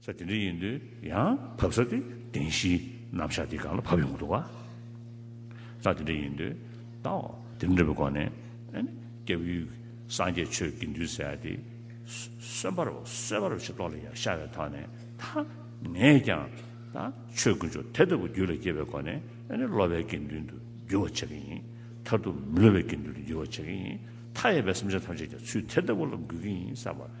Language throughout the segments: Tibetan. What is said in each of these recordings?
ས་དེ་འདྲ་ཡིན་དུས་ཡང་བབ་ས་དེ་བདེན་བཞིའི་རྣམ་གཞག་དེའི་སྒང་ལ་བབ་ཡོང་གི་འདུག་བ། ས་དེ་འདྲ་ཡིན་དུས་ད་དེ་འདྲ་བའི་སྒོ་ནས་སྐྱབས་ཡུལ་སངས་རྒྱས་ཆོས་དགེ་འདུན་ས་ཡ་དེ་གསོན་པར་གསོད་པར་བྱེད་དོགས་ལ་ཡང་ཤར་བའི་ཐོག་ནས་ད་ངས་ཀྱང་ད་ཆོས་དཀོན་མཆོག་དེ་ལྟ་བུ་རྒྱུད་ལ་སྐྱེས་པའི་སྒོ་ནས་སློབ་པའི་དགེ་འདུན་དུ་འགྱུར་བར་བྱེད་ཀྱི་ཡིན་མཐར་ཐུག་མི་སློབ་པའི་དགེ་འདུན་དུ་འགྱུར་བར་བྱེད་ཀྱི་ཡིན་མཐའ་ཡས་པའི་བསམ་བྱ་ཐམས་ཅད་ཀྱང་ཚུལ་དེ་ལྟ་བུ་ལ་འགོད་ཀྱི་ཡིན་བསམ་པ།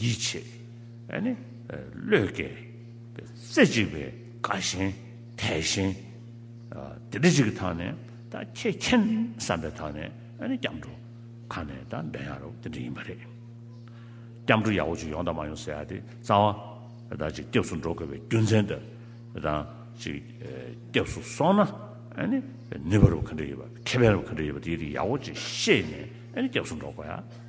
ཡིད་ཆེས་བློས་བཀལ། རྩེ་གཅིག་པའི་དགའ་ཞེན་དད་ཞེན། དེ་འདི་གཅིག་གི་ཐག་ནས་ཁྱེད་མཁྱེན་བསམ་པའི་ཐག་ནས་སྐྱབས་འགྲོ་ཁ་ནས་འདོན་ཡག་རོགས་དེ་འདྲ་ཡིན་པ་རེད། སྐྱབས་འགྲོ་ཡག་པོ་ཅིག་ཡོང་དང་མ་ཡོང་ཟེར་ཡག་དེ་རྩ་བ། ཅིག་སྐྱབས་སུ་འགྲོ་དགོས་པའི་རྒྱུ་མཚན་དང། ཅིག་སྐྱབས་སུ་སོང་ན་ནུས་པ་རུ་ག་འདྲ་ཡོད་པ་ཁེ་ཕན་རུ་ག་འདྲ་ཡོད་པ་དེ་རིགས་ཡག་པོ་ཅིག་ཤེས་ནས་སྐྱབས་སུ་འགྲོ་དགོས་ཡ།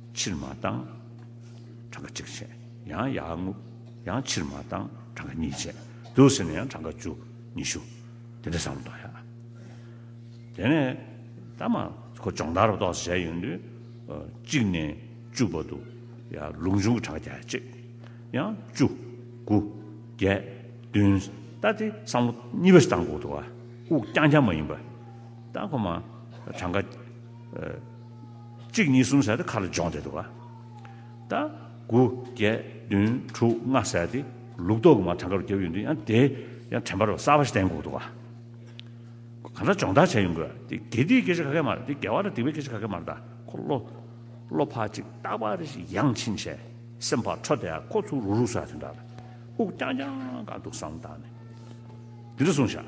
ཕྱིར་མ་བཏང། གྲངས་ཀ་གཅིག་བྱས། ཡང་ཡར་བརྔུབ། ཡང་ཕྱིར་མ་བཏང། གྲངས་ཀ་གཉིས་བྱས། དུས་ཟིན་ནས་ཡང་གྲངས་ཀ་བཅུ། ཉི་ཤུ། དེ་འདྲ་བཟང་བོ་གཏོང་ཡ། དེ་ནས་ད་མ་ཁོ་སྦྱོང་བརྡར་བཏོག་ཟེར་བྱས་ཡོང་དུས། གཅིག་ནས་བཅུ་བར་དུ། ཡང་ལུགས་འབྱུང་གི་གྲངས་ཀ་བརྒྱ་གཅིག། ཡང་བཅུ། དགུ། བརྒྱད། བདུན། ད་དེ་བསམ་བློ་གཉིས་པ་ཞིག་བཏང་དགོས་འདུག་ཨ། དབུགས་རྐྱང་རྐྱང་མ་ཡིན་པར། ད་ཁོ་མ་གྲངས་ཀ། གཅིག་གཉིས་གསུམ་ཟེར་ཏེ་ཁ་ལ་སྦྱོང་བསྡད་འདུག་ད། དགུ་བརྒྱད་བདུན་དྲུག་ལྔ་ཟེར་ཏེ་ལུག་ཏོག་གི་མ་ཐང་ཁ་རུ་བརྒྱབ་ཡོང་དུས་ཡང་དེ་ཡང་དྲན་པར་བ་གསར་བ་ཞིག་བསྟན་འགོག་འདུག་ག། གང་འདྲ་སྦྱོང་བརྡར་བྱས་ཡོང་དགོས་དེ་དགེ་སྡིག་སྐད་ཆ་ག་གེ་མ་རེད་དེ་དགེ་བ་དང་སྡིག་པའི་སྐད་ཆ་ག་གེ་མ་རེད་ད་ཁོ་བློ་བློ་ཕག་ཅིག་རྟག་པར་རེ་ཞིག་ཡང་ཕྱིན་ཆད་སེམས་ཕག་འཕྲོ་དེ་ཁོ་ཚུར་རུག་རུག་ཟ་དོན་དག་དབུགས་རྐྱང་རྐྱང་འགག་འདུག་བསམ་བཏང་ནས་འདི་འདྲ་གསུངས་བཞག།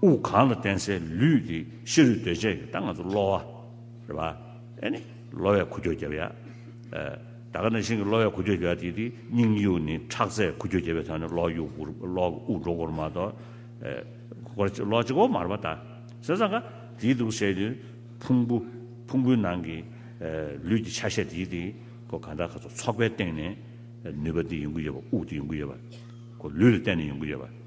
དབུགས་གང་ལ་བརྟེན་སའི་ལུས་དེ་ཤི་རུས་གདོས་བཅས་ཀྱི་ད་ང་ཚོ་གློ་བ། རེད་པ། ཨེ་ནི། གློ་བའི་ཁུ་ཁྱོ་བརྒྱབ་ཡ། ད་ག་ནང་བཞིན་གྱི་གློ་བའི་ཁུ་ཁྱོ་བརྒྱབ་དེ་དེ་སྙིང་དབྱུག་ནི་ཁྲག་རྩའི་ཁུ་ཁྱོ་བརྒྱབ་པའི་ཐོག་ནས་གློ་དབྱུག་འགུར་གློ་དབུགས་འགྲོ་འགོར་མ་གཏོགས། གོ་ར་གཅིག་གློ་གཅིག་གོ་མར་བ་ད་ཟེར་ཙང་ཀ་དེའི་དུག་སེལ་དུས་ཕུང་པོ་ཕུང་པོའི་ནང་གི་ལུས་ཀྱི་ཆ་ཤས་དེའི་དེ་གོ་གང་དག་ག་ཚོད་ཚོགས་པའི་སྟེང་ནས་ནུས་པ་དེ་ཡོང་གི་ཡོད་པ་དབུགས་དེ་ཡོང་གི་ཡོད་པ། གོ་ལུས་ལ་བརྟེན་ནས་ཡོང་གི་ཡོད་པ།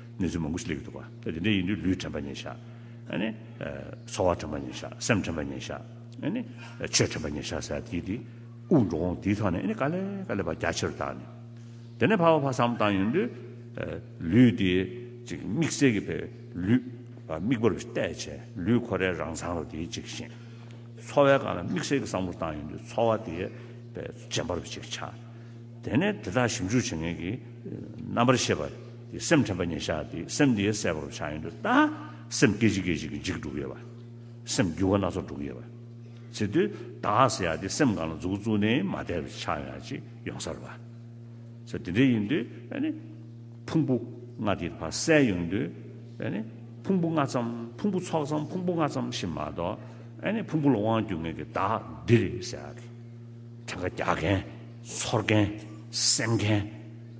གནས་ཚུལ་མང་པོ་ཞིག་ལས་ཀྱི་འདུག་ག་དེ་འདྲ་ཡིན་དུས་ལུས་དྲན་པ་ཉན་ཤག་ནི། འཚོ་བ་དྲན་པ་ཉན་ཤག་སེམས་དྲན་པ་ཉན་ཤག་ནི། ཆོས་དྲན་པ་ཉན་ཤག་ཟེར་དེ་དེ་དབུགས་འགྲོ་འོང་དེའི་ཐོག་ནས་ནི་དཀའ་ལས་དཀའ་ལས་པ་རྒྱ་ཆེར་བཏང་ནས། དེ་ནས་ཕ་བ་ཕ་བསམ་བཏང་ཡོང་དུས། ལུས་དེ་ཅིག་དམིགས་བསལ་གྱི་བས་ལུས། དམིགས་པར་བལྟས་བྱས་ལུས་ཁོ་རའི་རང་མཚང་རུ་དེ་ཅིག་བཞེངས། འཚོ་བའི་སྒང་ལ་དམིགས་བསལ་གྱི་བསམ་བློ་བཏང་ཡོང་དུས་འཚོ་བ་དེའི་བས་རྗེན་པར་བ་ཅིག་ཆགས། དེ་ནས་དེ་དག་ཞིབ་འཇུག་བྱེད་མཁན་གྱི་རྣམ་པར་ཤེས་པ། དེ་སེམས་དྲན་པ་ཉིད་ཤར་ཏེ་སེམས་དེ་གསལ་བར་ཆ་ཡང་དུ་བལྟ། སེམས་སྐད་ཅིག་སྐད་ཅིག་གིས་འཇིག་འགྲོ་གཡོ་བ། སེམས་འགྱུ་བ་སྣ་ཚོགས་འགྲོ་གཡོ་བ། ཚེ་དུས་དག་ཟེར་ཡག་དེ་སེམས་གང་ལ་འཛུགས་བཙུགས་ནས་མ་བསྡད་པའི་ཆ་ཡང་ཅི་ཡོང་སར་བ། ཚེ་དེ་འདྲ་ཡིན་དུས། ཕུང་པོ་ལྔ་དེ་བར་གསལ་ཡོང་དུས། ཕུང་པོ་ལྔ་ཙམ་ཕུང་པོ་ཚོགས་ཙམ་ཕུང་པོ་ལྔ་ཙམ་ཞེས་མ་གཏོགས། ཕུང་པོ་ལ་དབང་བསྒྱུར་ངེས་ཀྱི་དག་འདི་རེད་ཟེར། དྲན་ཁ་རྒྱག་མཁན། ཚོར་མཁན། སེམས་མཁན།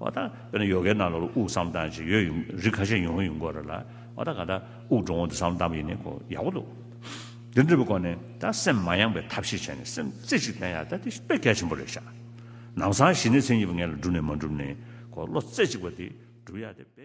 བ་དང། དཔེར་ན་ཡོ་གའི་ནང་ལོགས་ལ་དབུགས་སམ་གཏམ་ཞིག་ཡོད་ཡིན། རིགས་ཁ་ཤས་ཡོང་ཡོད་ཡིན་སྐོར་རེད་ལ། བ་དང་ག་དང། དབུགས་འགྲོ་འོང་དུ་སམ་གཏམ་ཡིན་ནི་ཁོ་ཡག་པོ་འདུག། འདི་འདྲ་བའི་སྐོར་ནས་ད་སེམས་མ་ཡངས་པའི་ཐབས་ཤེས་བྱས་ནས་སེམས་རྩེ་ཞིག་བསྟེན་ཡག་ད་དེ་དཔེ་གལ་ཆེན་པོ་རེད་ཤག། ནང་སང་གཞི་ནས་མཚན་ཉིད་པ་ངན་ལ་སྒྲུབ་ནས་མ་འགྲུབ་ནས་ཁོ་བློ་རྩེ་གཅིག་པ་དེ་སྒྲུབ་ཡག་དེ་དཔེ།